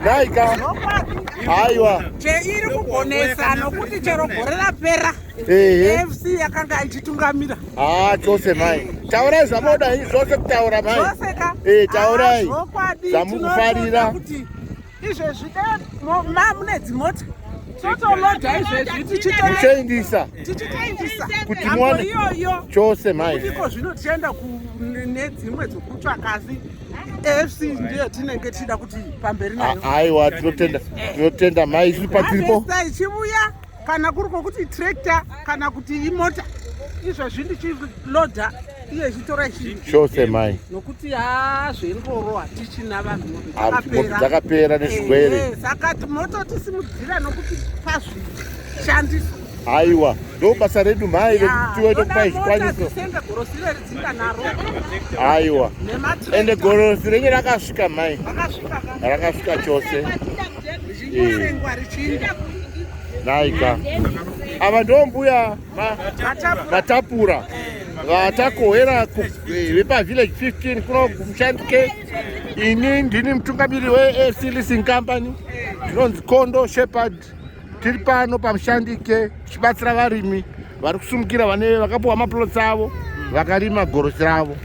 Naika. Haiwa. Cheiri kugonesa nokuti chero gore rapera. Ehe. FC yakanga ichitungamira. Ah, chose mai. Taurai zvamoda zvose kutaura mai. Zvose ka. Eh, taurai. Zvamukufarira. Kuti izvezvi ma mune dzimota. Totoloda izvezvi tichitoendisa. Tichitoendisa. Kuti muone. Chose mai. Ndiko zvino tichaenda ku nedzimwe dzokutsvaka asi. afc ndiyo tinenge tichida kuti pamberi nayo aiwa tinotenda tinotenda mai isu patiripo ichivuya kana kuri kwokuti tractor kana kuti imota izvozvi ndichiloda iye ichitora chose mai nokuti haa zvengoro hatichina vanhu dzakapera nezvirwere saka tinoto tisimudzira nokuti pazvishandiswa Aiwa, ndo basa redu mhai vekutiwe tokupa izvikwaniso. Aiwa. Ende gorosi renye rakasvika mhai. Rakasvika chose. Eh. Naika. Ava ndo mbuya vatapura. Vatakohera eh, vepa village 15 kuno kumushandike. Ini ndini mutungamiri we AC Leasing Company. Ndinonzi Kondo Shepherd. Tiri pano paMushandike tichibatsira varimi vari kusumukira vane vakapuwa maplots avo vakarima gorosi ravo.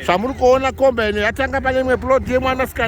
Zvamuri kuona komba ino yatanga pane imwe plot yemwanasikana